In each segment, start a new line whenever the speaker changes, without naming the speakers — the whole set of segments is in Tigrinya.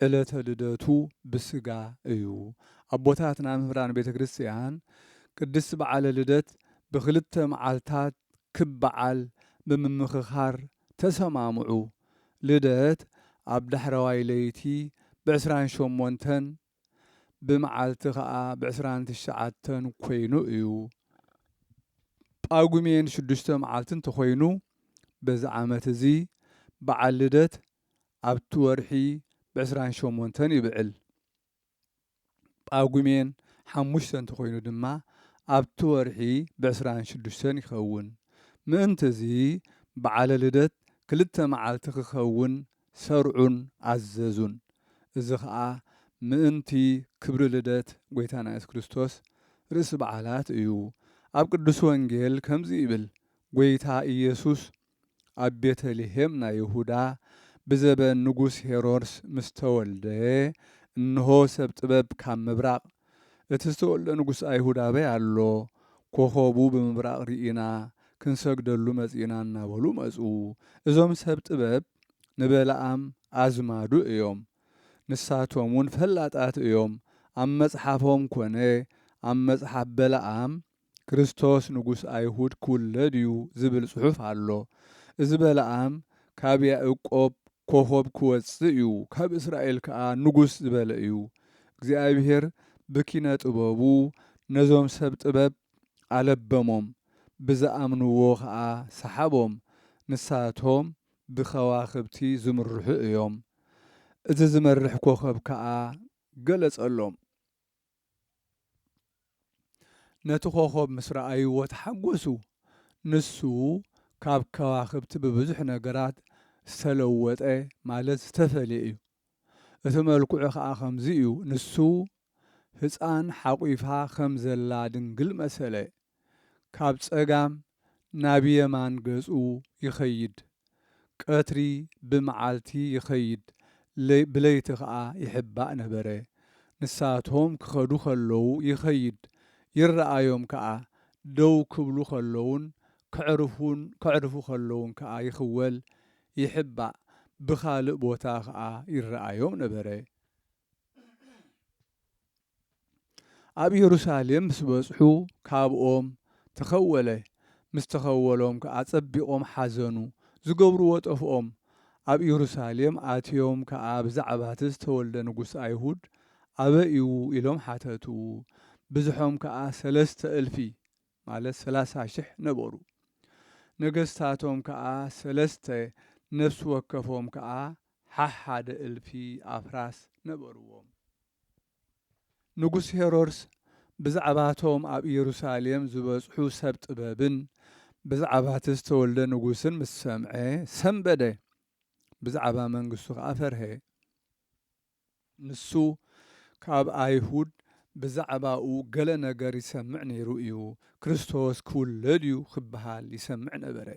ዕለተ ልደቱ ብስጋ እዩ። ኣቦታትና መምህራን ቤተ ክርስቲያን ቅድስት በዓለ ልደት ብክልተ መዓልታት ክብ በዓል ብምምክኻር ተሰማምዑ። ልደት ኣብ ዳሕረዋይ ለይቲ ብዕስራን ሸሞንተን ብመዓልቲ ከኣ ብዕስራን ትሽዓተን ኮይኑ እዩ። ጳጉሜን ሽዱሽተ መዓልቲ እንተኾይኑ በዚ ዓመት እዚ በዓል ልደት ኣብቲ ወርሒ ብ ዕስራን ሸሞንተን ይብዕል። ጳጉሜን ሓሙሽተ እንተኾይኑ ድማ ኣብቲ ወርሒ ብ ዕስራን ሽዱሽተን ይኸውን። ምእንት'ዚ በዓለ ልደት ክልተ መዓልቲ ክኸውን ሰርዑን ኣዘዙን። እዚ ኸኣ ምእንቲ ክብሪ ልደት ጐይታና የሱስ ክርስቶስ ርእሲ በዓላት እዩ። ኣብ ቅዱስ ወንጌል ከምዚ ይብል፣ ጐይታ ኢየሱስ ኣብ ቤተ ልሔም ናይ ይሁዳ ብዘበን ንጉስ ሄሮድስ ምስ ተወልደ፣ እንሆ ሰብ ጥበብ ካብ ምብራቕ፣ እቲ ዝተወልደ ንጉስ ኣይሁድ ኣበይ ኣሎ? ኮኾቡ ብምብራቕ ርኢና ክንሰግደሉ መጺእና እናበሉ መጹ። እዞም ሰብ ጥበብ ንበለኣም ኣዝማዱ እዮም። ንሳቶምውን ፈላጣት እዮም። ኣብ መጽሓፎም ኮነ ኣብ መጽሓፍ በለኣም ክርስቶስ ንጉስ ኣይሁድ ክውለድ እዩ ዝብል ጽሑፍ ኣሎ እዚ በለኣም ካብ ያእቆብ ኮኾብ ክወጽእ እዩ ካብ እስራኤል ከኣ ንጉስ ዝበለ እዩ እግዚኣብሄር ብኪነ ጥበቡ ነዞም ሰብ ጥበብ ኣለበሞም ብዝኣምንዎ ከኣ ሰሓቦም ንሳቶም ብከዋኽብቲ ዝምርሑ እዮም እዚ ዝመርሕ ኮኾብ ከኣ ገለጸሎም ነቲ ኮኾብ ምስ ረኣይዎ ተሓጐሱ። ንሱ ካብ ከዋኽብቲ ብብዙሕ ነገራት ዝተለወጠ ማለት ዝተፈልየ እዩ። እቲ መልክዑ ኸኣ ከምዚ እዩ፣ ንሱ ህጻን ሓቚፋ ከም ዘላ ድንግል መሰለ። ካብ ጸጋም ናብ የማን ገጹ ይኸይድ። ቀትሪ ብመዓልቲ ይኸይድ ብለይቲ ከኣ ይሕባእ ነበረ። ንሳቶም ክኸዱ ከለዉ ይኸይድ፣ ይረኣዮም ከኣ፣ ደው ክብሉ ከለዉን ከዕርፉ ከለዉን ከኣ ይኽወል፣ ይሕባእ፣ ብኻልእ ቦታ ከኣ ይረኣዮም ነበረ። ኣብ ኢየሩሳሌም ምስ በጽሑ ካብኦም ተኸወለ፣ ምስ ተኸወሎም ከኣ ጸቢቖም ሓዘኑ፣ ዝገብርዎ ጠፍኦም። ኣብ ኢየሩሳሌም ኣትዮም ከኣ ብዛዕባቲ ዝተወልደ ንጉሥ ኣይሁድ ኣበይ እዩ ኢሎም ሓተቱ፣ ብዝሖም ከኣ ሰለስተ እልፊ ማለት ሰላሳ ሽሕ ነበሩ። ነገስታቶም ከኣ ሰለስተ፣ ነፍሲ ወከፎም ከኣ ሓሓደ እልፊ ኣፍራስ ነበርዎም። ንጉስ ሄሮድስ ብዛዕባቶም ኣብ ኢየሩሳሌም ዝበጽሑ ሰብ ጥበብን ብዛዕባቲ ዝተወልደ ንጉስን ምስ ሰምዐ ሰምበደ፣ ብዛዕባ መንግስቱ ኸኣ ፈርሀ። ንሱ ካብ ኣይሁድ ብዛዕባኡ ገለ ነገር ይሰምዕ ነይሩ እዩ፣ ክርስቶስ ኪውለድ እዩ ኺበሃል ይሰምዕ ነበረ።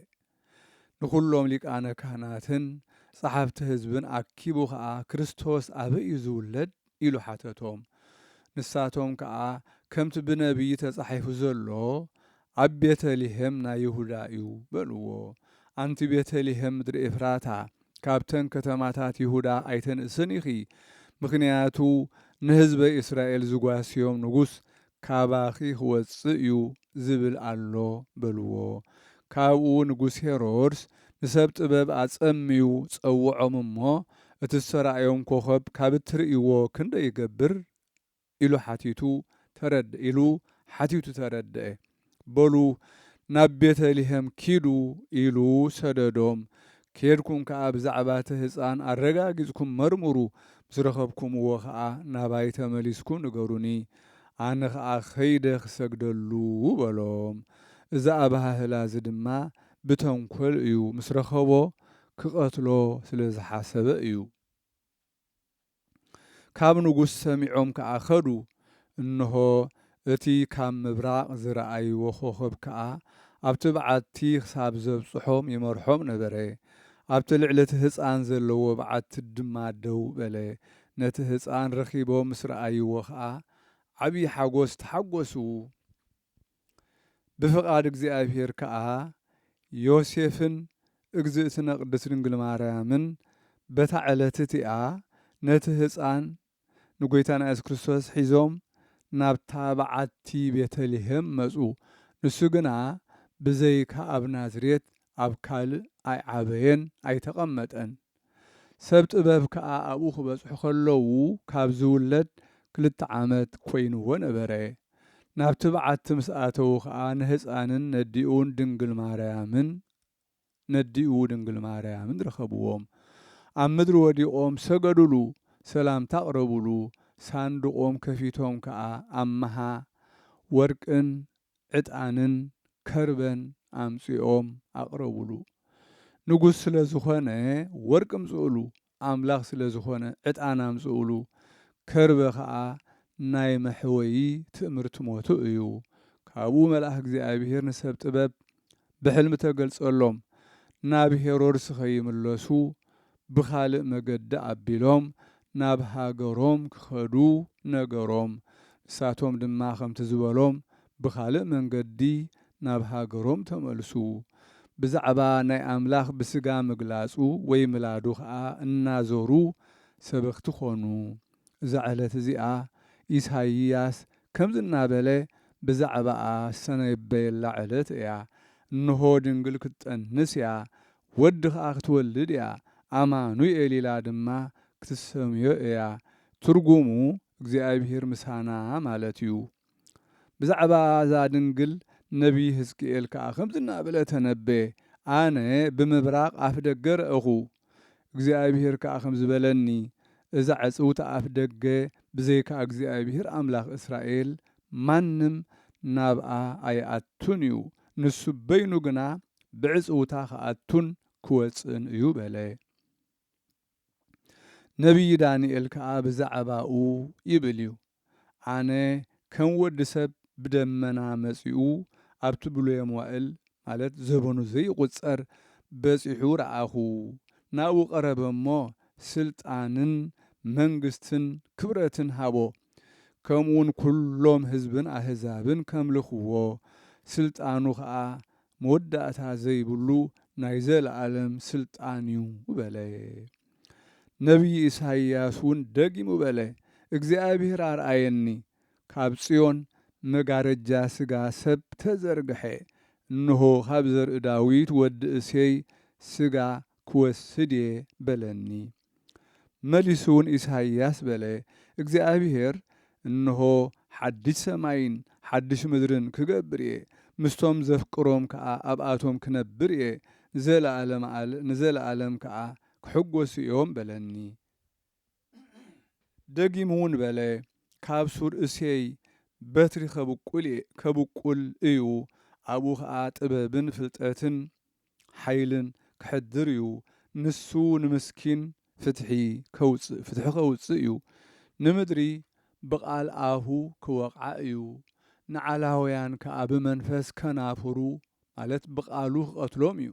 ንዅሎም ሊቃነ ካህናትን ጸሓፍቲ ህዝብን ኣኪቡ ኸኣ ክርስቶስ ኣበይ እዩ ዚውለድ? ኢሉ ሓተቶም። ንሳቶም ከኣ ከምቲ ብነብዪ ተጻሒፉ ዘሎ ኣብ ቤተ ልሄም ናይ ይሁዳ እዩ በልዎ። ኣንቲ ቤተ ልሄም ምድሪ ኤፍራታ ካብተን ከተማታት ይሁዳ ኣይተንእስን ኢኺ፣ ምኽንያቱ ንህዝበ እስራኤል ዝጓስዮም ንጉስ ካባኺ ኽወጽእ እዩ ዚብል ኣሎ በልዎ። ካብኡ ንጉስ ሄሮድስ ንሰብ ጥበብ ኣጸምዩ ጸውዖም እሞ፣ እቲ እተራእዮም ኰኸብ ካብ እትርእይዎ ክንደይ ይገብር? ኢሉ ሓቲቱ ተረድእ ኢሉ ሓቲቱ ተረድእ በሉ ናብ ቤተ ልሔም ኪዱ ኢሉ ሰደዶም ኬድኩም ከኣ ብዛዕባ እቲ ህጻን ኣረጋጊጽኩም መርምሩ ምስ ረኸብኩምዎ ከኣ ናባይ ተመሊስኩ ንገሩኒ ኣነ ከኣ ከይደ ክሰግደሉ በሎም እዚ ኣበሃህላ እዚ ድማ ብተንኮል እዩ ምስ ረኸቦ ክቀትሎ ስለ ዝሓሰበ እዩ። ካብ ንጉስ ሰሚዖም ከኣ ከዱ፣ እንሆ፣ እቲ ካብ ምብራቕ ዝረኣይዎ ኾኸብ ከኣ ኣብቲ በዓቲ ኽሳብ ዘብጽሖም ይመርሖም ነበረ። ኣብቲ ልዕሊ እቲ ህጻን ዘለዎ በዓቲ ድማ ደው በለ። ነቲ ህጻን ረኺቦም ምስ ረኣይዎ ኸኣ ዓብዪ ሓጐስ ተሓጐሱ። ብፍቃድ እግዚኣብሔር ከኣ ዮሴፍን እግዝእትነ ቅድስት ድንግል ማርያምን በታ ዕለት እቲኣ ነቲ ህጻን ንጎይታና ኢየሱስ ክርስቶስ ሒዞም ናብታ በዓቲ ቤተልሔም መጹ ንሱ ግና ብዘይካ ኣብ ናዝሬት ኣብ ካልእ ኣይዓበየን ኣይተቀመጠን። ሰብ ጥበብ ከኣ ኣብኡ ክበጽሑ ከለዉ ካብ ዝውለድ ክልተ ዓመት ኮይንዎ ነበረ። ናብቲ በዓቲ ምስ ኣተዉ ከኣ ንህጻንን ነዲኡን ድንግል ማርያምን ነዲኡ ድንግል ማርያምን ረኸብዎም። ኣብ ምድሪ ወዲቖም ሰገዱሉ፣ ሰላምታ ኣቕረቡሉ፣ ሳንዱቖም ከፊቶም ከኣ ኣምሃ ወርቅን ዕጣንን ከርበን ኣምጺኦም ኣቕረቡሉ። ንጉስ ስለ ዝኾነ ወርቂ ኣምጽኡሉ፣ ኣምላኽ ስለ ዝኾነ ዕጣን ኣምጽኡሉ፣ ከርበ ኸኣ ናይ መሕወዪ ትእምርቲ ሞቱ እዩ። ካብኡ መልኣኽ እግዚኣብሄር ንሰብ ጥበብ ብሕልሚ ተገልጸሎም፣ ናብ ሄሮድስ ኸይምለሱ ብኻልእ መገዲ ኣቢሎም ናብ ሃገሮም ክኸዱ ነገሮም። ንሳቶም ድማ ከምቲ ዝበሎም ብኻልእ መንገዲ ናብ ሃገሮም ተመልሱ። ብዛዕባ ናይ ኣምላኽ ብስጋ ምግላጹ ወይ ምላዱ ኸኣ እናዞሩ ሰበኽቲ ዀኑ። እዛ ዕለት እዚኣ ኢሳይያስ ከምዚ እናበለ ብዛዕባኣ ዝተነበየላ ዕለት እያ፣ እንሆ ድንግል ክትጠንስ እያ፣ ወዲ ኸኣ ክትወልድ እያ፣ ኣማኑኤል ኢላ ድማ ክትሰምዮ እያ፣ ትርጉሙ እግዚኣብሄር ምሳና ማለት እዩ። ብዛዕባ እዛ ድንግል ነብዪ ህዝቅኤል ከኣ ከምዚ እናበለ ተነበየ፣ ኣነ ብምብራቕ ኣፍደገ ረኣኹ፣ እግዚኣብሄር ከኣ ከምዚ በለኒ፣ እዛ ዕጽውቲ ኣፍደገ ብዘይካ እግዚኣብሄር ኣምላኽ እስራኤል ማንም ናብኣ ኣይኣቱን እዩ፣ ንሱ በይኑ ግና ብዕጽውታ ክኣቱን ክወጽእን እዩ በለ። ነብዪ ዳንኤል ከኣ ብዛዕባኡ ይብል እዩ፣ ኣነ ከም ወዲ ሰብ ብደመና መጺኡ ኣብቲ ብሉየ መዋእል፣ ማለት ዘበኑ ዘይቝጸር፣ በጺሑ ረኣኹ፣ ናብኡ ቀረበ እሞ፣ ስልጣንን መንግስትን ክብረትን ሃቦ፣ ከምኡውን ኵሎም ህዝብን ኣህዛብን ከምልኽዎ፣ ስልጣኑ ኸኣ መወዳእታ ዘይብሉ ናይ ዘለኣለም ስልጣን እዩ በለ። ነብዪ ኢሳይያስ እውን ደጊሙ በለ፣ እግዚኣብሄር ኣርኣየኒ፣ ካብ ጽዮን መጋረጃ ስጋ ሰብ ተዘርግሐ፣ እንሆ፣ ካብ ዘርኢ ዳዊት ወዲ እሴይ ስጋ ክወስድ እየ በለኒ። መሊሱውን ኢሳይያስ በለ፣ እግዚኣብሄር እንሆ፣ ሓድሽ ሰማይን ሓድሽ ምድርን ክገብር እየ፣ ምስቶም ዘፍቅሮም ከኣ ኣብኣቶም ክነብር እየ፣ ንዘለኣለመኣል ንዘለኣለም ከኣ ክሕጐሱ እዮም በለኒ። ደጊሙውን በለ፣ ካብ ሱር እሴይ በትሪ ኸብቍል እዩ፣ ኣብኡ ኸኣ ጥበብን ፍልጠትን፣ ሓይልን ከሕድር እዩ ንሱ ንምስኪን ፍትሒ ከውጽእ ፍትሒ ከውጽእ እዩ ንምድሪ ብቃል ኣፉ ክወቕዓ እዩ ንዓላውያን ከኣ ብመንፈስ ከናፍሩ ማለት ብቃሉ ክቀትሎም እዩ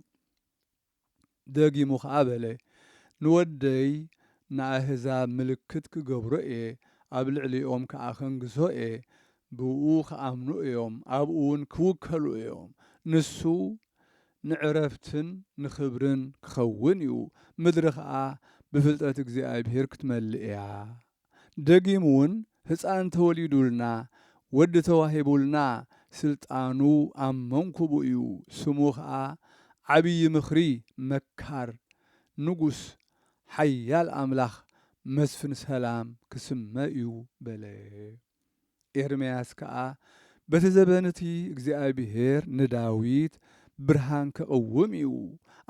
ደጊሙ ከኣ በለ ንወደይ ንኣህዛብ ምልክት ክገብሮ እየ ኣብ ልዕሊኦም ከኣ ከንግሶ እየ ብእኡ ኺኣምኑ እዮም፣ ኣብኡውን ኪውከሉ እዮም፣ ንሱ ንዕረፍትን ንኽብርን ኪኸውን እዩ፣ ምድሪ ኸኣ ብፍልጠት እግዚኣብሄር ክትመልእ እያ። ደጊምውን ህጻን ተወሊዱልና፣ ወዲ ተዋሂቡልና፣ ስልጣኑ ኣብ መንኵቡ እዩ፣ ስሙ ኸኣ ዓብዪ ምኽሪ፣ መካር፣ ንጉስ፣ ሓያል ኣምላኽ፣ መስፍን ሰላም ኪስመ እዩ በለ። ኤርምያስ ከኣ በቲ ዘበን እቲ እግዚኣብሄር ንዳዊት ብርሃን ኬቕውም እዩ፣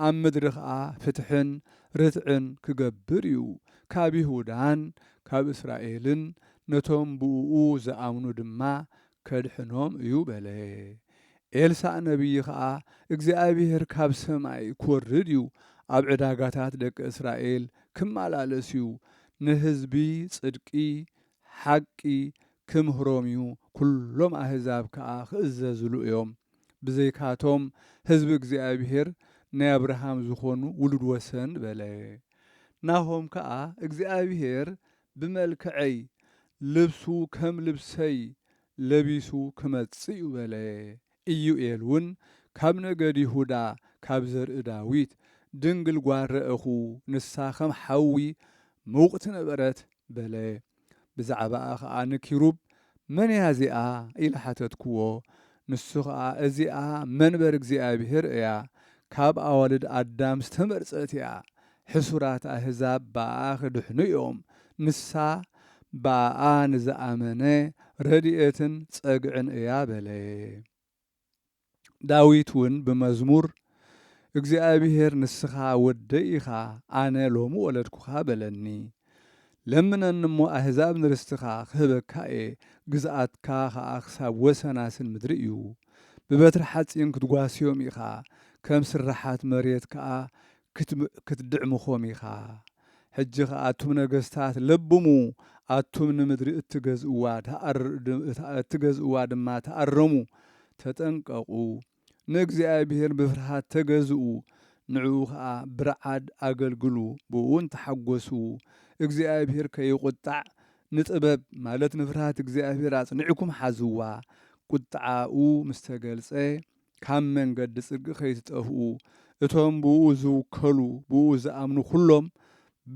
ኣብ ምድሪ ኸኣ ፍትሕን ርትዕን ኪገብር እዩ፣ ካብ ይሁዳን ካብ እስራኤልን ነቶም ብእኡ ዝኣምኑ ድማ ኬድሕኖም እዩ በለ። ኤልሳእ ነብዪ ኸኣ እግዚኣብሄር ካብ ሰማይ ኪወርድ እዩ፣ ኣብ ዕዳጋታት ደቂ እስራኤል ኪመላለስ እዩ፣ ንህዝቢ ጽድቂ ሓቂ ኪምህሮም እዩ፣ ኵሎም ኣህዛብ ከኣ ኺእዘዝሉ እዮም። ብዘይካቶም ህዝቢ እግዚኣብሄር ናይ ኣብርሃም ዝዀኑ ውሉድ ወሰን በለ። ናሆም ከኣ እግዚኣብሄር ብመልክዐይ፣ ልብሱ ከም ልብሰይ ለቢሱ ኪመጽእ እዩ በለ። ኢዩኤል ውን ካብ ነገድ ይሁዳ ካብ ዘርኢ ዳዊት ድንግል ጓል ረእኹ ንሳ ከም ሓዊ ምውቕቲ ነበረት በለ ብዛዕባኣ ኸኣ ንኪሩብ መን እያ እዚኣ ኢለ ሓተትክዎ ንሱ ኸኣ እዚኣ መንበር እግዚኣብሄር እያ ካብ ኣዋልድ ኣዳም ዝተመርጸት እያ ሕሱራት ኣህዛብ ብኣኣ ኺድሕኑ እዮም። ንሳ ብኣኣ ንዝኣመነ ረድኤትን ጸግዕን እያ በለ። ዳዊት እውን ብመዝሙር፣ እግዚኣብሄር ንስኻ ወደይ ኢኻ፣ ኣነ ሎሚ ወለድኩኻ በለኒ። ለምነኒ እሞ ኣህዛብ ንርስትኻ ኽህበካ እየ፣ ግዝኣትካ ኸኣ ክሳብ ወሰናስን ምድሪ እዩ። ብበትሪ ሓጺን ክትጓስዮም ኢኻ፣ ከም ስርሓት መሬት ከኣ ክትድዕምኹም ኢኻ። ሕጂ ኸኣ ኣቱም ነገስታት ለብሙ፣ ኣቱም ንምድሪ እትገዝእዋ እትገዝእዋ ድማ ተኣረሙ፣ ተጠንቀቑ፣ ንእግዚኣብሄር ብፍርሃት ተገዝኡ፣ ንዕኡ ኸኣ ብርዓድ ኣገልግሉ፣ ብእኡውን ተሓጐሱ፣ እግዚኣብሄር ከይቝጣዕ ንጥበብ ማለት ንፍርሃት እግዚኣብሄር ኣጽኒዕኩም ሓዝዋ፣ ቍጥዓኡ ምስ ተገልጸ ካብ መንገዲ ጽድቂ ከይትጠፍኡ እቶም ብእኡ ዝውከሉ ብእኡ ዝኣምኑ ኩሎም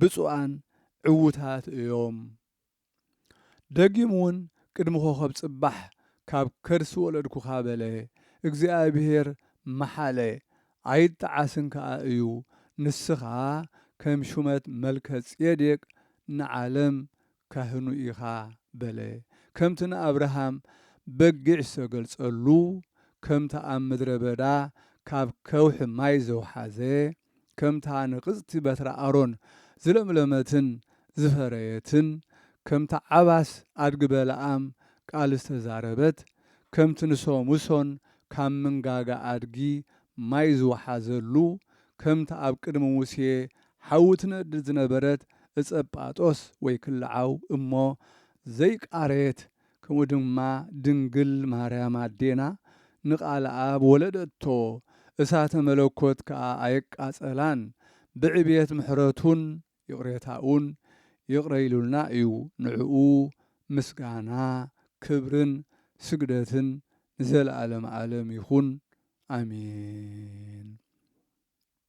ብጹኣን ዕውታት እዮም። ደጊም ውን ቅድሚ ኮኸብ ጽባሕ ካብ ከርሲ ወለድኩኻ በለ። እግዚኣብሄር መሓለ ኣይጣዓስን ከኣ እዩ። ንስኻ ከም ሹመት መልከጼዴቅ ንዓለም ካህኑ ኢኻ በለ። ከምቲ ንኣብርሃም በጊዕ ዝተገልጸሉ፣ ከምታ ኣብ ምድረ በዳ ካብ ከውሒ ማይ ዘውሓዘ፣ ከምታ ንቕጽቲ በትረ ኣሮን ዝለምለመትን ዝፈረየትን፣ ከምታ ዓባስ ኣድጊ በለኣም ቃል ዝተዛረበት፣ ከምቲ ንሶምሶን ካብ ምንጋጋ ኣድጊ ማይ ዝወሓዘሉ፣ ከምቲ ኣብ ቅድሚ ሙሴ ሓዊ ትነድድ ዝነበረት እጸጳጦስ ወይ ክልዓው እሞ ዘይቃረየት ከምኡ ድማ ድንግል ማርያም ኣዴና ንቃልኣብ ወለደቶ እሳተ መለኮት ከኣ ኣየቃጸላን ብዕብየት ምሕረቱን ይቅሬታኡን ይቅረ ኢሉልና እዩ ንዕኡ ምስጋና ክብርን ስግደትን ንዘለኣለም ኣለም ይኹን ኣሜን።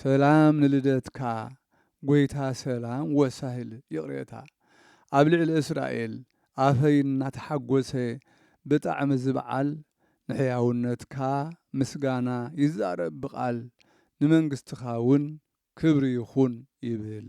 ሰላም ንልደትካ ጎይታ ሰላም ወሳሂል ይቅሬታ ኣብ ልዕሊ እስራኤል ኣፈይ እናተሓጎሰ ብጣዕሚ ዝብዓል ንሕያውነትካ ምስጋና ይዛረብ ብቃል ንመንግስትካ ውን ክብሪ ይኩን ይብል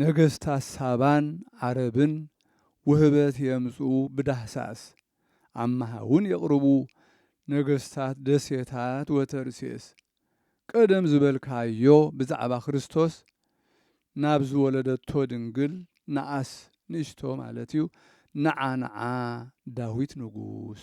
ነገስታት ሳባን ዓረብን ውህበት የምጽኡ ብዳህሳስ ኣማሃ እውን የቕርቡ ነገስታት ደሴታት ወተርሴስ ቀደም ዝበልካዮ ብዛዕባ ክርስቶስ ናብ ዝወለደቶ ድንግል ንኣስ ንእሽቶ ማለት እዩ ንዓ ንዓ ዳዊት ንጉስ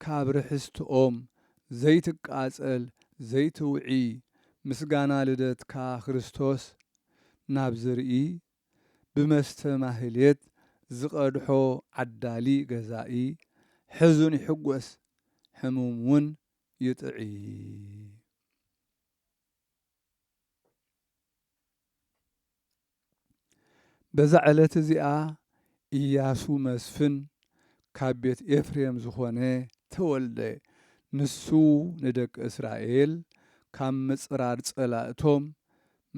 ካብ ርሕስትኦም ዘይትቃጸል ዘይትውዒ ምስጋና ልደትካ ክርስቶስ ናብ ዝርኢ ብመስተ ማህሌት ዝቀድሖ ዓዳሊ ገዛኢ ሕዙን ይሕጎስ ሕሙም ውን ይጥዒ። በዛ ዕለት እዚኣ እያሱ መስፍን ካብ ቤት ኤፍሬም ዝኾነ ተወልደ። ንሱ ንደቂ እስራኤል ካብ ምጽራር ጸላእቶም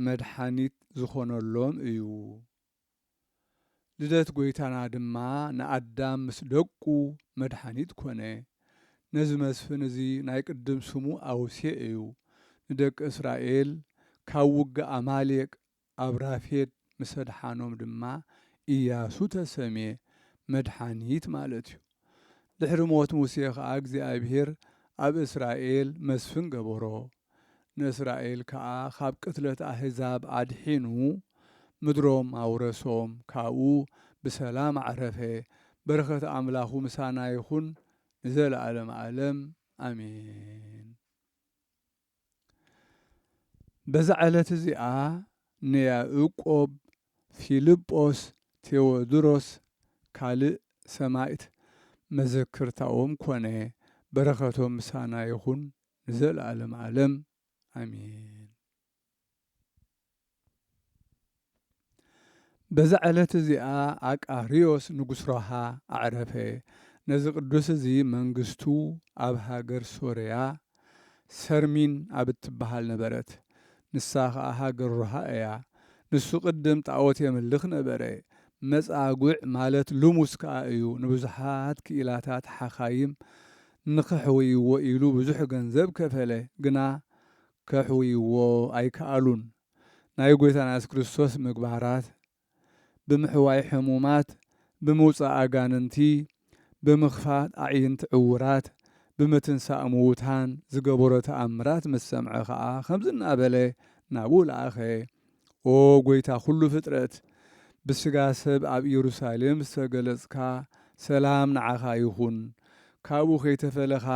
መድሓኒት ዝኾነሎም እዩ። ልደት ጐይታና ድማ ንኣዳም ምስ ደቁ መድሓኒት ኮነ። ነዚ መስፍን እዚ ናይ ቅድም ስሙ ኣውሴ እዩ። ንደቂ እስራኤል ካብ ውግእ ኣማሌቅ ኣብ ራፌድ ምስ ኣድሓኖም ድማ ኢያሱ ተሰምየ፣ መድሓኒት ማለት እዩ። ድሕሪ ሞት ሙሴ ኸኣ እግዚኣብሄር ኣብ እስራኤል መስፍን ገበሮ፣ ንእስራኤል ከኣ ኻብ ቅትለት ኣህዛብ ኣድሒኑ ምድሮም ኣውረሶም፣ ካብኡ ብሰላም ኣዕረፈ፣ በረኸት ኣምላኹ ምሳና ይኹን ንዘለኣለመ ኣለም ኣሜን። በዛ ዕለት እዚኣ ንያእቆብ፣ ፊልጶስ፣ ቴዎድሮስ ካልእ ሰማእት መዘክርታኦም ኮነ። በረኸቶም ምሳና ይኹን ንዘለኣለም ኣለም ኣሜን። በዛ ዕለት እዚኣ ኣቃርዮስ ንጉስ ሮሃ ኣዕረፈ። ነዚ ቅዱስ እዚ መንግስቱ ኣብ ሃገር ሶርያ ሰርሚን ኣብ እትበሃል ነበረት። ንሳ ኸኣ ሃገር ሮሃ እያ። ንሱ ቅድም ጣኦት የምልኽ ነበረ። መጻጉዕ ማለት ልሙስ ከኣ እዩ። ንብዙሓት ክኢላታት ሓካይም ንኸሕውይዎ ኢሉ ብዙሕ ገንዘብ ከፈለ። ግና ከሕውይዎ ኣይከኣሉን። ናይ ጐይታና የሱስ ክርስቶስ ምግባራት፣ ብምሕዋይ ሕሙማት፣ ብምውጻእ ኣጋንንቲ፣ ብምኽፋት ኣዒንቲ ዕዉራት፣ ብምትንሳእ ምዉታን ዝገበሮ ተኣምራት ምስ ሰምዐ ኸኣ ኸምዚ እናበለ ናብኡ ለኣኸ፣ ኦ ጐይታ ኵሉ ፍጥረት፣ ብስጋ ሰብ ኣብ ኢየሩሳሌም ዝተገለጽካ፣ ሰላም ንዓኻ ይኹን። ካብኡ ከይተፈለኻ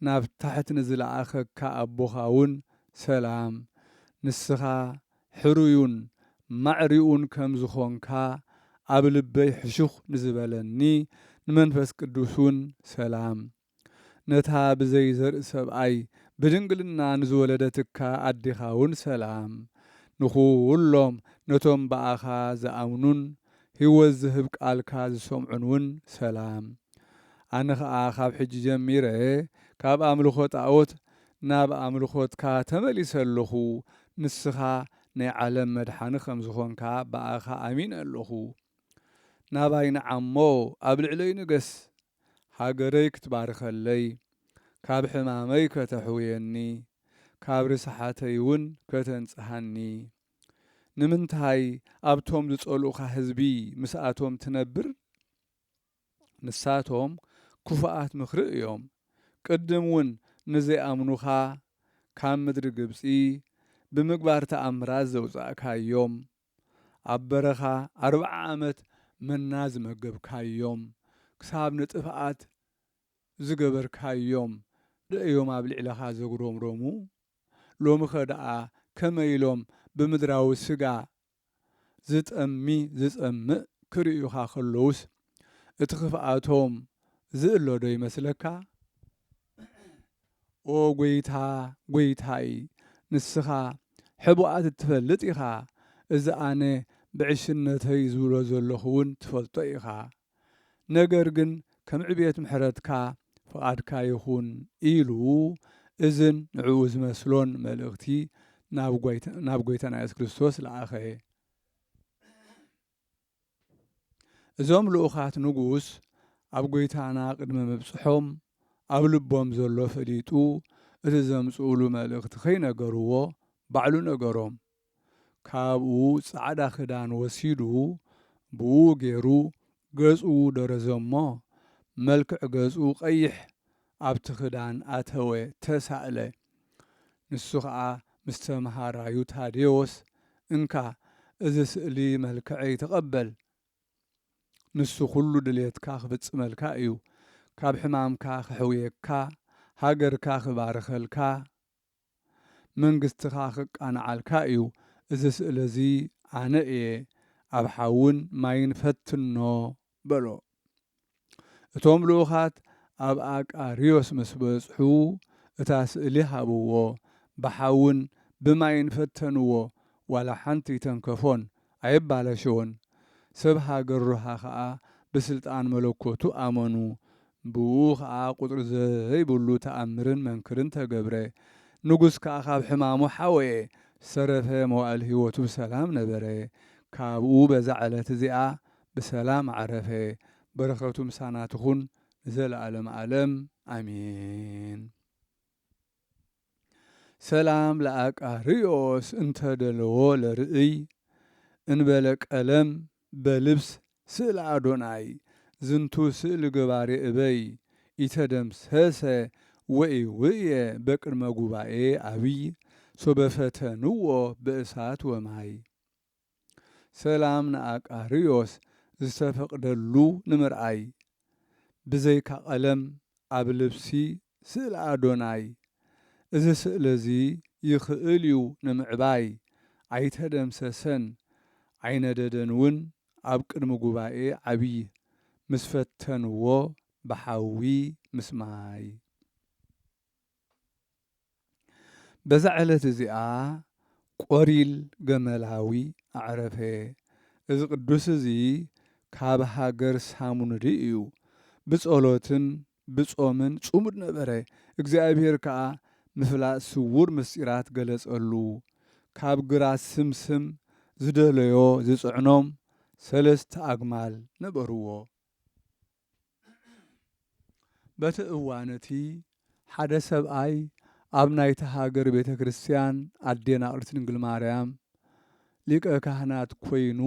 ናብ ታሕት ንዝለኣኸካ ኣቦኻውን ሰላም። ንስኻ ሕሩዩን ማዕሪኡን ከም ዝኾንካ ኣብ ልበይ ሕሹኽ ንዝበለኒ ንመንፈስ ቅዱስውን ሰላም። ነታ ብዘይ ዘርኢ ሰብኣይ ብድንግልና ንዝወለደትካ ኣዴኻውን ሰላም። ንኹሎም ነቶም ብኣኻ ዝኣምኑን ህይወት ዝህብ ቃልካ ዝሰምዑንውን ሰላም። ኣነ ኸኣ ኻብ ሕጂ ጀሚረ ካብ ኣምልኾ ጣኦት ናብ ኣምልኾትካ ተመሊሰ ኣሎኹ፣ ንስኻ ናይ ዓለም መድሓኒ ከም ዝኾንካ ብኣኻ ኣሚነ ኣሎኹ። ናባይ ንዓሞ ኣብ ልዕለይ ንገስ ሃገረይ ክትባርከለይ ካብ ሕማመይ ከተሕውየኒ ካብ ርስሓተይ ውን ከተንጽሃኒ ንምንታይ ኣብቶም ዝጸልኡኻ ህዝቢ ምስኣቶም ትነብር ንሳቶም ክፉኣት ምኽሪ እዮም ቅድም ውን ንዘይኣምኑኻ ካብ ምድሪ ግብጺ ብምግባር ተኣምራት ዘውጻእካዮም ኣብ በረኻ ኣርብዓ ዓመት መና ዝመገብካዮም፣ ክሳብ ንጥፍኣት ዝገበርካዮም ዶ እዮም ኣብ ልዕለኻ ዘጉረምረሙ? ሎሚኸ ደኣ ከመይ ኢሎም ብምድራዊ ስጋ ዝጠሚ ዝጸምእ ክርእዩኻ ከለዉስ፣ እቲ ክፍኣቶም ዝእለ ዶ ይመስለካ? ኦ ጐይታ ጐይታይ ንስኻ ሕቡኣት እትፈልጥ ኢኻ እዚ ኣነ ብዕሽነተይ ዝብሎ ዘለኹ ውን ትፈልጦ ኢኻ ነገር ግን ከም ዕብየት ምሕረትካ ፍቓድካ ይኹን ኢሉ እዝን ንዕኡ ዝመስሎን መልእኽቲ ናብ ጐይታና ኢየሱስ ክርስቶስ ለኣኸ። እዞም ልኡኻት ንጉስ ኣብ ጐይታና ቅድሚ ምብጽሖም ኣብ ልቦም ዘሎ ፈሊጡ እቲ ዘምጽኡሉ መልእኽቲ ከይነገርዎ ባዕሉ ነገሮም። ካብኡ ጻዕዳ ክዳን ወሲዱ ብእኡ ገይሩ ገጹ ደረዘሞ መልክዕ ገጹ ቀይሕ ኣብቲ ክዳን ኣተወ፣ ተሳእለ። ንሱ ኸኣ ምስ ተመሃራዩ ታዴዎስ፣ እንካ እዚ ስእሊ መልክዐይ ተቐበል፣ ንሱ ዅሉ ድሌትካ ኽፍጽመልካ እዩ፣ ካብ ሕማምካ ኼሕውየካ፣ ሃገርካ ኺባርኸልካ፣ መንግስቲ ከኣ ክቃናዓልካ እዩ እዚ ስእሊ እዚ ኣነ እየ ኣብ ሓውን ማይን ፈትኖ በሎ እቶም ልኡኻት ኣብ ኣቃርዮስ ምስ በጽሑ እታ ስእሊ ሃብዎ ብሓውን ብማይን ፈተንዎ ዋላ ሓንቲ ኣይተንከፎን ኣየባላሸዎን ሰብ ሃገር ሮሃ ከኣ ብስልጣን መለኮቱ ኣመኑ ብኡኡ ከኣ ቁጽሪ ዘይብሉ ተኣምርን መንክርን ተገብረ ንጉስ ከኣ ካብ ሕማሙ ሓወየ ሰረፈ መዋእል ሂወቱ ብሰላም ነበረ ካብኡ በዛ ዕለት እዚኣ ብሰላም ኣዕረፈ በረከቱ ምሳና ትኩን ንዘለኣለም ኣለም ኣሜን። ሰላም ለኣቃርዮስ እንተ ደለዎ ለርእይ እንበለ ቀለም በልብስ ስእለ ኣዶናይ ዝንቱ ስእሊ ገባሬ እበይ ኢተደምሰሰ ወኢውእየ በቅድመ ጉባኤ ኣብይ ሶበ ፈተንዎ በእሳት ወማይ። ሰላም ንኣቃርዮስ ዝተፈቅደሉ ንምርኣይ ብዘይካ ቀለም ኣብ ልብሲ ስእሊ ኣዶናይ እዚ ስእሊ እዚ ይክእል እዩ ንምዕባይ ኣይተደምሰሰን ኣይነደደን እውን ኣብ ቅድሚ ጉባኤ ዓብይ ምስ ፈተንዎ ብሓዊ ምስ ማይ በዛ ዕለት እዚኣ ቈሪል ገመላዊ ኣዕረፈ። እዚ ቅዱስ እዚ ካብ ሃገር ሳሙንሪ እዩ። ብጸሎትን ብጾምን ጽሙድ ነበረ፣ እግዚኣብሔር ከኣ ምፍላጥ ስዉር ምሥጢራት ገለጸሉ። ካብ ግራት ስምስም ዝደለዮ ዝጽዕኖም ሠለስተ ኣግማል ነበርዎ። በቲ እዋን እቲ፣ ሓደ ሰብኣይ ኣብ ናይታ ሃገር ቤተ ክርስቲያን ኣዴና ቅድስት ድንግል ማርያም ሊቀ ካህናት ኮይኑ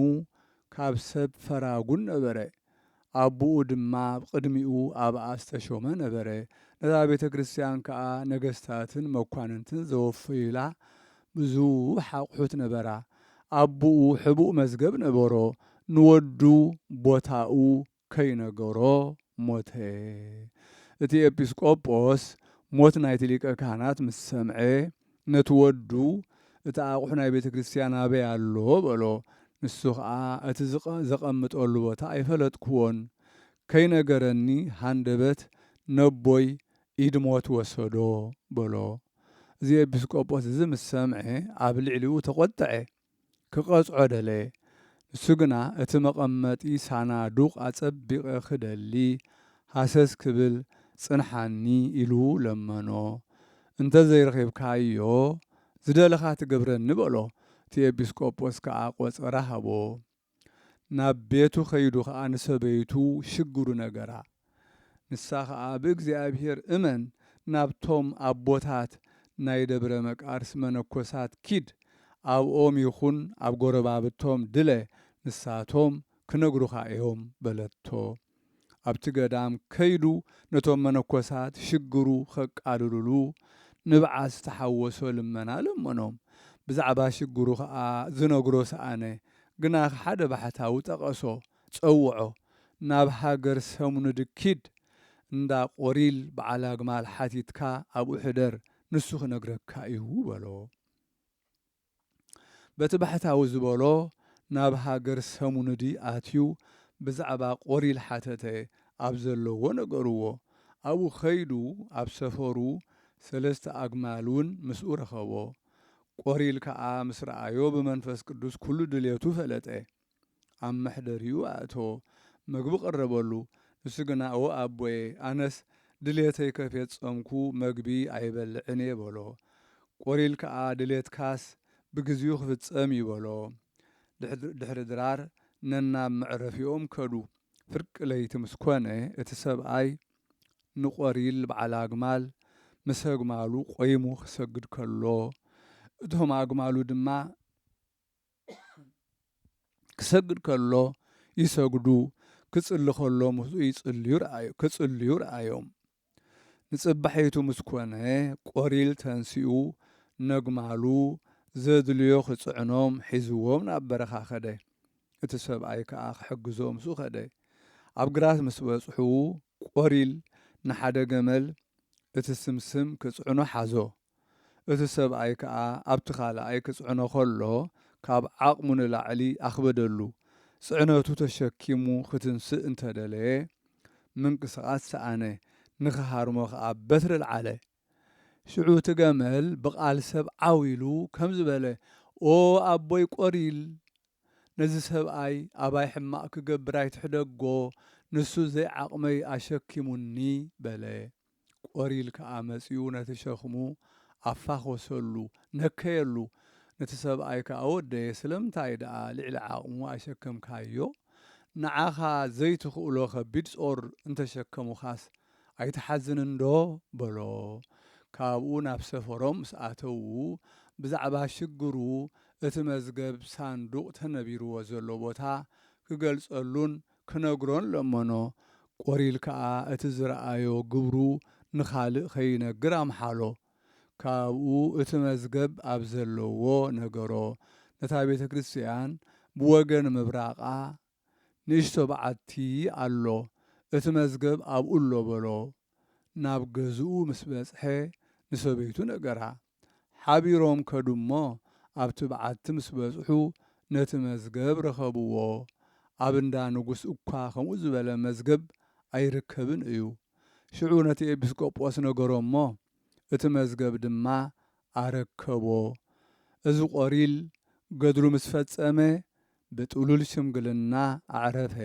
ካብ ሰብ ፈራጉን ነበረ። ኣቡኡ ድማ ቅድሚኡ ኣብኣ ዝተሾመ ነበረ። ነዛ ቤተ ክርስቲያን ከኣ ነገስታትን መኳንንትን ዘወፈዩላ ብዙሕ ኣቑሑት ነበራ። ኣቡኡ ሕቡእ መዝገብ ነበሮ፣ ንወዱ ቦታኡ ከይነገሮ ሞተ። እቲ ኤጲስቆጶስ ሞት ናይቲ ሊቀ ካህናት ምስ ሰምዐ፣ ነቲ ወዱ፣ እቲ ኣቝሑ ናይ ቤተ ክርስትያን ኣበይ ኣሎ? በሎ። ንሱ ኸኣ፣ እቲ ዘቐምጠሉ ቦታ ኣይፈለጥክዎን። ከይነገረኒ ሃንደበት ነቦይ ኢድ ሞት ወሰዶ በሎ። እዚ ኤጲስቆጶስ እዚ ምስ ሰምዐ፣ ኣብ ልዕሊኡ ተቖጥዐ። ክቐጽዖ ደለየ። ንሱ ግና እቲ መቐመጢ ሳናዱቕ ኣጸቢቐ ክደሊ ሃሰስ ክብል ጽንሓኒ ኢሉ ለመኖ። እንተ ዘይረኺብካዮ ዝደለኻ ትገብረኒ በሎ። እቲ ኤጲስቆጶስ ከኣ ቈጸራ ሃቦ። ናብ ቤቱ ከይዱ ኸኣ ንሰበይቱ ሽግሩ ነገራ። ንሳ ኸኣ ብእግዚኣብሄር እመን ናብቶም ኣቦታት ናይ ደብረ መቃርስ መነኮሳት ኪድ ኣብኦም ይኹን ኣብ ጎረባብቶም ድለ ንሳቶም ክነግሩኻ እዮም በለቶ። ኣብቲ ገዳም ከይዱ ነቶም መነኮሳት ሽግሩ ኸቃልሉሉ ንብዓት ዝተሓወሶ ልመና ለመኖም። ብዛዕባ ሽግሩ ኸኣ ዝነግሮ ሰኣነ። ግናኽ ሓደ ባሕታዊ ጠቐሶ፣ ጸውዖ፣ ናብ ሃገር ሰሙንድ ኪድ፣ እንዳ ቖሪል በዓል ኣግማል ሓቲትካ ኣብኡ ሕደር፣ ንሱ ኺነግረካ እዩ በሎ። በቲ ባሕታዊ ዝበሎ ናብ ሃገር ሰሙንዲ ኣትዩ ብዛዕባ ቆሪል ሓተተ ኣብ ዘለዎ ነገርዎ ኣብኡ ከይዱ ኣብ ሰፈሩ ሰለስተ ኣግማል ውን ምስኡ ረኸቦ ቆሪል ከኣ ምስ ረኣዮ ብመንፈስ ቅዱስ ኩሉ ድልየቱ ፈለጠ ኣብ መሕደሪኡ ኣእተዎ። መግቢ ቀረበሉ። ንሱ ግና እወ ኣቦየ፣ ኣነስ ድሌተይ ከፌጸምኩ መግቢ ኣይበልዕን እየ በሎ። ቆሪል ከኣ ድሌትካስ ብግዜኡ ክፍጸም እዩ በሎ። ድሕሪ ድራር ነናብ መዕረፊኦም ከዱ። ፍርቂ ለይቲ ምስ ኮነ እቲ ሰብኣይ ንቆሪል በዓል ኣግማል ምስ ኣግማሉ ቆይሙ ክሰግድ ከሎ እቶም ኣግማሉ ድማ ክሰግድ ከሎ ይሰግዱ፣ ክጽሊ ከሎ ምስኡ ይጽልዩ ረኣዮ ክጽልዩ ረኣዮም። ንጽባሒቱ ምስ ኮነ ቆሪል ተንሲኡ ነግማሉ ዘድልዮ ክጽዕኖም ሒዝዎም ናብ በረኻ ከደ። እቲ ሰብኣይ ከኣ ክሕግዞ ምስኡ ከደ። ኣብ ግራት ምስ በጽሑ ቆሪል ንሓደ ገመል እቲ ስምስም ክጽዕኖ ሓዞ። እቲ ሰብኣይ ከኣ ኣብቲ ካልኣይ ክጽዕኖ ከሎ ካብ ዓቕሙ ንላዕሊ ኣኽበደሉ። ጽዕነቱ ተሸኪሙ ክትንስእ እንተ ደለየ ምንቅስቓስ ሰኣነ፣ ንኽሃርሞ ከኣ በትሪ ኣልዓለ። ሽዑ እቲ ገመል ብቓል ሰብ ዓው ኢሉ ከምዚ በለ፣ ኦ ኣቦይ ቆሪል! ነዚ ሰብኣይ ኣባይ ሕማቕ ክገብር ኣይትሕደጎ፣ ንሱ ዘይዓቕመይ ኣሸኪሙኒ በለ። ቆሪል ከኣ መጺኡ ነቲ ሸኽሙ ኣፋኾሰሉ፣ ነከየሉ፣ ነቲ ሰብኣይ ከኣ ወደየ ስለምንታይ ደኣ ልዕሊ ዓቕሙ ኣይሸከምካዮ? ንዓኻ ዘይትኽእሎ ከቢድ ጾር እንተሸከሙኻስ ኣይትሓዝንንዶ? በሎ። ካብኡ ናብ ሰፈሮም ምስ ኣተዉ ብዛዕባ ሽግሩ እቲ መዝገብ ሳንዱቕ ተነቢርዎ ዘሎ ቦታ ክገልጸሉን ክነግሮን ለመኖ። ቆሪል ከኣ እቲ ዝረኣዮ ግብሩ ንኻልእ ከይነግር ኣምሓሎ። ካብኡ እቲ መዝገብ ኣብ ዘለዎ ነገሮ። ነታ ቤተ ክርስቲያን ብወገን ምብራቓ ንእሽቶ በዓቲ ኣሎ፣ እቲ መዝገብ ኣብኡ ኣሎ በሎ። ናብ ገዝኡ ምስ በጽሐ ንሰበይቱ ነገራ። ሓቢሮም ከዱ'ሞ ኣብቲ በዓቲ ምስ በጽሑ ነቲ መዝገብ ረኸብዎ። ኣብ እንዳ ንጉስ እኳ ከምኡ ዝበለ መዝገብ ኣይርከብን እዩ። ሽዑ ነቲ ኤጲስቆጶስ ነገሮ'ሞ እቲ መዝገብ ድማ ኣረከቦ። እዚ ቆሪል ገድሉ ምስ ፈጸመ ብጥሉል ሽምግልና ኣዕረፈ።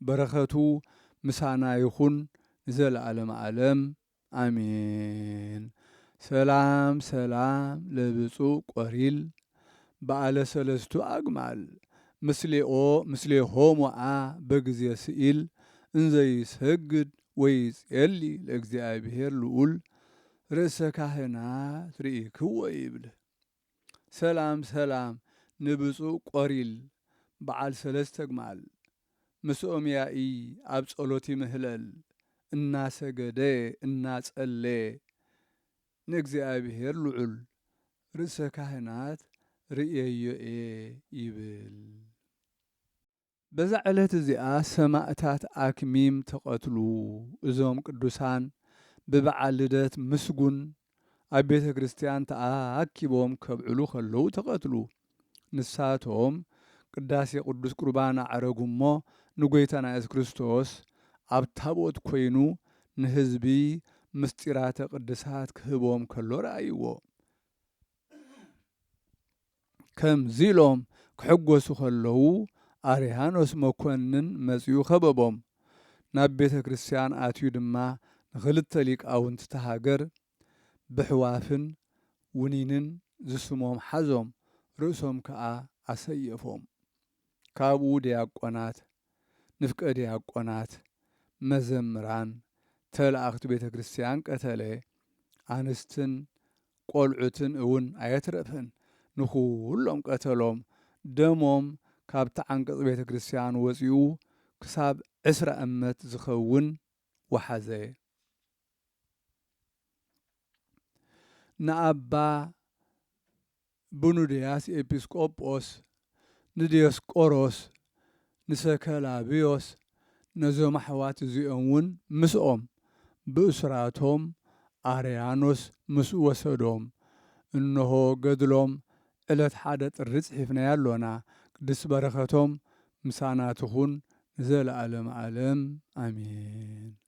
በረኸቱ ምሳና ይኹን ንዘለኣለም ኣለም። ኣሜን ሰላም ሰላም ለብፁዕ ቆሪል በዓለ ሰለስቱ ኣግማል ምስሌኦ ምስሌሆሙኣ በግዜ ስኢል እንዘ ይሰግድ ወይጼሊ ለእግዚኣብሔር ልኡል ርእሰ ካህናት ርኢክዎ ይብል። ሰላም ሰላም ንብጹእ ቆሪል በዓል ሰለስተ ኣግማል ምስኦም ያኢ ኣብ ጸሎት ይምህለል እናሰገደ እናጸለየ ንእግዚኣብሄር ልዑል ርእሰ ካህናት ርእየዮ እየ ይብል። በዛ ዕለት እዚኣ ሰማእታት ኣክሚም ተቐትሉ። እዞም ቅዱሳን ብበዓል ልደት ምስጉን ኣብ ቤተ ክርስቲያን ተኣኪቦም ከብዕሉ ከለዉ ተቐትሉ። ንሳቶም ቅዳሴ ቅዱስ ቁርባን ኣዕረጉ እሞ ንጐይታና ኢየሱስ ክርስቶስ ኣብ ታቦት ኮይኑ ንሕዝቢ ምሥጢራተ ቅድሳት ክህቦም ከሎ ረኣይዎ። ከምዚ'ሎም ክሕጎሱ ከለዉ ኣርያኖስ መኮንን መጺኡ ከበቦም። ናብ ቤተ ክርስቲያን ኣትዩ ድማ ንክልተ ሊቃውንቲ'ታ ሃገር ብሕዋፍን ውኒንን ዝስሞም ሓዞም፣ ርእሶም ከኣ ኣሰየፎም። ካብኡ ድያቆናት፣ ንፍቀ ድያቆናት፣ መዘምራን፣ ተለኣኽቲ ቤተ ክርስቲያን ቀተለ። ኣንስትን ቈልዑትን እውን ኣየትረፈን፣ ንዅሎም ቀተሎም። ደሞም ካብቲ ዓንቀጽ ቤተ ክርስቲያን ወጺኡ ክሳብ ዕስራ እመት ዝኸውን ወሓዘ። ንኣባ ብኑድያስ ኤጲስቆጶስ፣ ንድዮስቆሮስ፣ ንሰከላብዮስ፣ ነዞም ኣሕዋት እዚኦም ውን ምስኦም፣ ብእሱራቶም ኣርያኖስ ምስኡ ወሰዶም። እንሆ ገድሎም ዕለት ሓደ ጥሪ ጽሒፍናዮ ኣሎና። ቅድስቲ በረኸቶም ምሳና ትኹን ንዘለኣለመ ኣለም ኣሜን።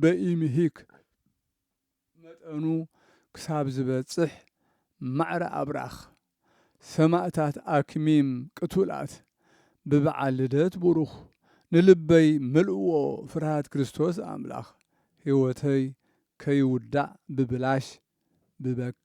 በኢምሂክ መጠኑ ክሳብ ዝበጽሕ ማዕረ ኣብራኽ ሰማእታት ኣክሚም ቅቱላት ብበዓል ልደት ቡሩኽ ንልበይ መልእዎ ፍርሃት ክርስቶስ ኣምላኽ ሕይወተይ ከይውዳእ ብብላሽ ብበክ